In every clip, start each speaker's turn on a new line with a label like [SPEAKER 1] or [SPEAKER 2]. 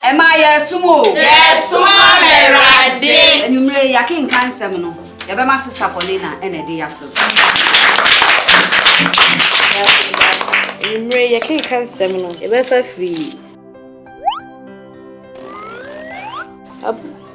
[SPEAKER 1] Ɛmaa yɛɛsom o. Yɛɛsom ama
[SPEAKER 2] Awurade. Anwumerɛ yi yɛakenkan
[SPEAKER 1] nsɛm no, yɛbɛma Sista Paulina na ɛde yɛafrɛ mu.
[SPEAKER 3] Anwumerɛ yi yɛkenkan nsɛm no, yɛbɛfa firi.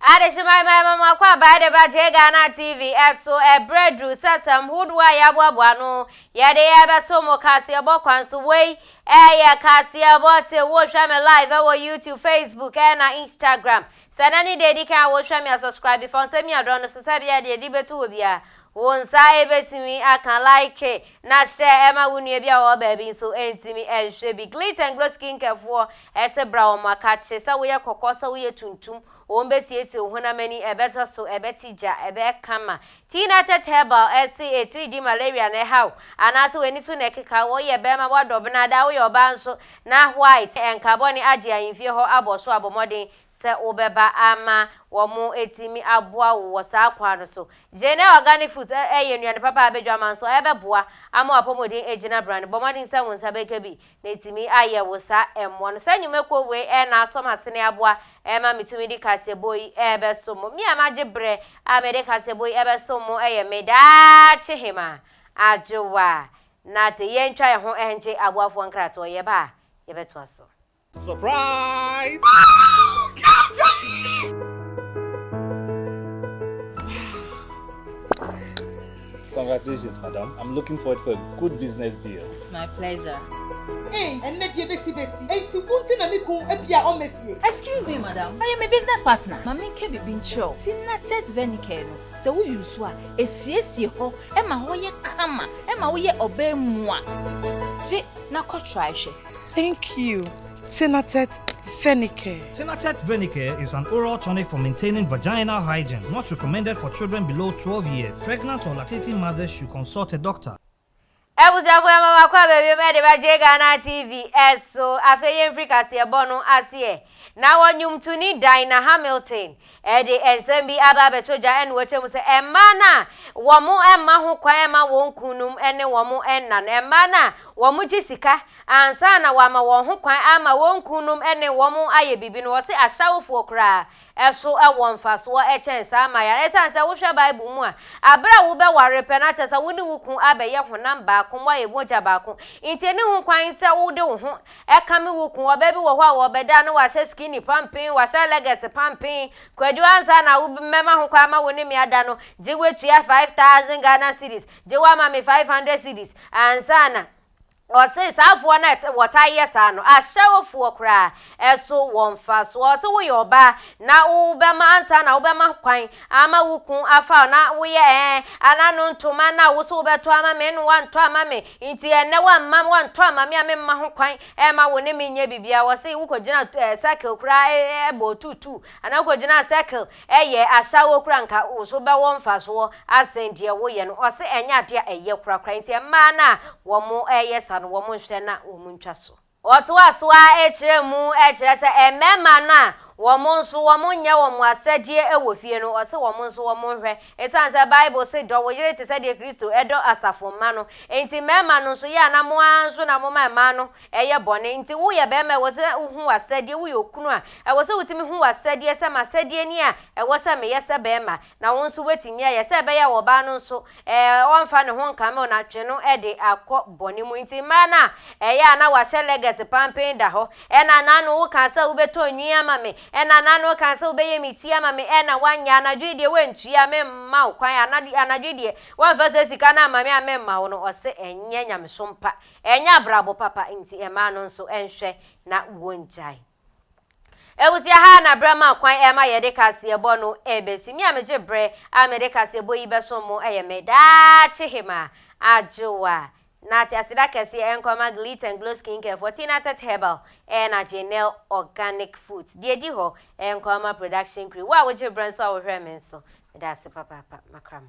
[SPEAKER 4] Adehyeman man mama akɔ abae de ba J Ghana TV ɛso ɛbrɛ duru sɛ sɛm hodoɔ a yɛaboaboa ano yɛde ɛbɛso mo kaseɛbɔ kwan so wei ɛyɛ kaseɛbɔ te wohwɛ me live ɛwɔ YouTube Facebook ɛna Instagram Sɛ na ne da edi kan a wo hwɛ me a subscribe bi fa wo nsa mia dɔ no so sɛ bia deɛ de bɛto hɔ bia wo nsa bɛtumi aka like na hyɛ ɛma wo nua bi a ɔwɔ baabi nso ntumi nhwɛ bi glit and glow skin care foɔ ɛse bra wɔn akakye sɛ woyɛ kɔkɔɔ sɛ woyɛ tuntum wɔn bɛsiesie wo honam ani ɛbɛtɔ so ɛbɛte gya ɛbɛyɛ kama Tina Tet Herbal se etiri di malaria na ɛhaw anaasɛ w'ani so na ɛkeka wo, woyɛ barima a woadɔ bena daa woyɛ ɔbaa nso na white ɛnka bɔne agye ahemfie hɔ abɔ so a bɔ mmɔden sɛ wobɛba ama wɔatumi aboa wo wɔ saa kwan no so. Jane Organic Foods yɛ nnuane papa a badwaman so ɛbɛboa ama w'apɔmuden agyina brane. Bɔ mmɔden sɛ wo nsa bɛka bi na etumi ayɛ wo saa ɛmmoa no. Saa nnwumakuo wei ɛyɛ n'asɔm asene aboa ɛma metumi de kaseɛbɔ yi ɛbɛsom mo. Me a magye berɛ a mede kaseɛbɔ yi ɛbɛsom mo ɛyɛ me daakye hemaa, Adwoa Nartey. Yɛntwa yɛn ho ɛngye aboafoɔ nkratoɔ, yɛba a yɛbɛtoa so. Surprise!
[SPEAKER 5] Congratulations, madam. I'm looking forward for a good business deal. It's my pleasure.
[SPEAKER 6] Ee, ɛnnɛ
[SPEAKER 7] deɛ bɛsi bɛsi. Enti wo nti na me kun abi a ɔmmɛ fie. Excuse me, madam.
[SPEAKER 6] Ɔyɛ me business partner. Ma menka biribi nkyerɛ wo. Tina Tete Venicare no, sɛ wo use so a, ɛsiesie hɔ, ɛma hɔ yɛ kama, ɛma woyɛ ɔbaa mu a. Gye na kɔ try hwɛ. Thank you,
[SPEAKER 7] Tina Tete Venicare. Tina Tete Venicare
[SPEAKER 8] is an oral tonic for maintaining vaginal hygiene. Not recommended for children below twelve years. Pregnant or lactating mothers should consult a doctor. Abusuafo
[SPEAKER 4] yɛma makɔ abawiem ɛde bɛgye Ghana TV ɛso afei yɛnfiri kaseɛbɔ no aseɛ na wɔ nwomtoni Dinah Hamilton ɛde ɛnsɛm bi aba abɛtɔ dwa ɛne wɔkyɛ mu sɛ ɛmaa no a wɔn ɛma ho kwan ɛma wɔn kununom ɛne wɔn ɛna no ɛmaa no a wɔn gye sika ansa na wɔama wɔn ho kwan ama wɔn kununom ɛne wɔn ayɛ biribi no wɔse ahyɛwofoɔ koraa so wɔ mfasoɔ kyɛn saa ma yɛn. Ɛsiane sɛ wohwɛ Bible mu a, berɛ a wobɛware pɛ, na kyerɛ sɛ wo ne wo kunu abɛyɛ honam baako, moayɛ mogya baako, nti ɛnni ho kwan sɛ wode wo ho kame wo kunu. Ɔbaa bi wɔ hɔ a, ɔbɛda a na wahyɛ skinny pampen, wahyɛ leggings pampen. Kwadu, ansa na mɛma ho kwan ma wo ne me ada no, gye woatua five thousand Ghana cedis, gye woama me five hundred cedis ansa na. Ɔse saa afoɔ no a wɔtaa yɛ saa no ahyɛ afoɔ koraa ɛso wɔ mfasoɔ. Ɔse woyɛ ɔbaa na wobɛma ansa na wobɛma kwan ama wo kun afa wo na woyɛ ɛɛ ana no ntoma no a wose wobɛtɔ ama me no wantɔ ama me nti ɛnɛ wamma wantɔ ama me a memma ho kwan ɛma wo ne me nyɛ bibia. Ɔse wokɔgyina circle koraa ɛbɔ tuutuu anaa wokɔgyina circle Ɛyɛ a saa wo kora nka wo so bɛ wɔ nfa soɔ asen deɛ wo yɛ no ɔse ɛnyɛ adeɛ a ɛyɛ kora kora nti mmaa no a wɔmo yɛ sa no wɔmo nhwɛ na wɔmo ntwa so. Ɔtoa so ara kyerɛ mu kyerɛ sɛ mmarima no a wɔmo nso wɔmo nyɛ wɔmo asɛdeɛ wɔ fie no ɔse wɔmo nso wɔmo nhwɛ ɛsiane sɛ bible se dɔ wo yere te sɛdeɛ Kristo dɔ asafo mma no nti mmarima no nso yɛ a na mo ara nso na mo ma mmaa no ɛyɛ bɔne nti woyɛ barima a ɛwɔ sɛ wohu w'asɛdeɛ, woyɛ okunu a ɛwɔ sɛ wotumi hu w'asɛdeɛ sɛ m'asɛdeɛ ni a ɛwɔ sɛ meyɛ sɛ barima na wo nso woatumi ayɛ sɛ ɛbɛyɛ a ɔbaa no nso ɔmfa ne ho nkame wo na twe no de akɔ bɔne mu. Nti mmaa no a ɛyɛ a na wɔahyɛ leggers pampen da hɔ ɛna na ano wokaa sɛ wobɛtɔ nwi ama me, ɛna na ano wokaa sɛ wobɛyɛ me ti ama me ɛna woanyɛ, anadwo yi deɛ woantua memma wo kwan, anadwo yi deɛ woamfa saa sika no amma me a memma wo no, ɔse ɛnyɛ nyamesom pa, Ɛnyɛ abrabɔ papa nti mmaa no nso nhwɛ na wɔngyae. Abusua ha na berɛ ma kwan ɛma yɛde kaseɛbɔ no ɛbɛsi. Me a megye berɛ a mede kaseɛbɔ yi bɛsom mo ɛyɛ me daakye hemaa Adwoa. Na te aseda kɛseɛ ɛnkɔ ma Glitt and Glow Skincare foɔ, Tina Tett Herbal ɛna Janelle Organic Foods. Deɛ ɛdi hɔ ɛnkɔ ma Production Crew. Wo a wogye berɛ nso a wohwɛ me nso, meda ase papaapa. Makra mo.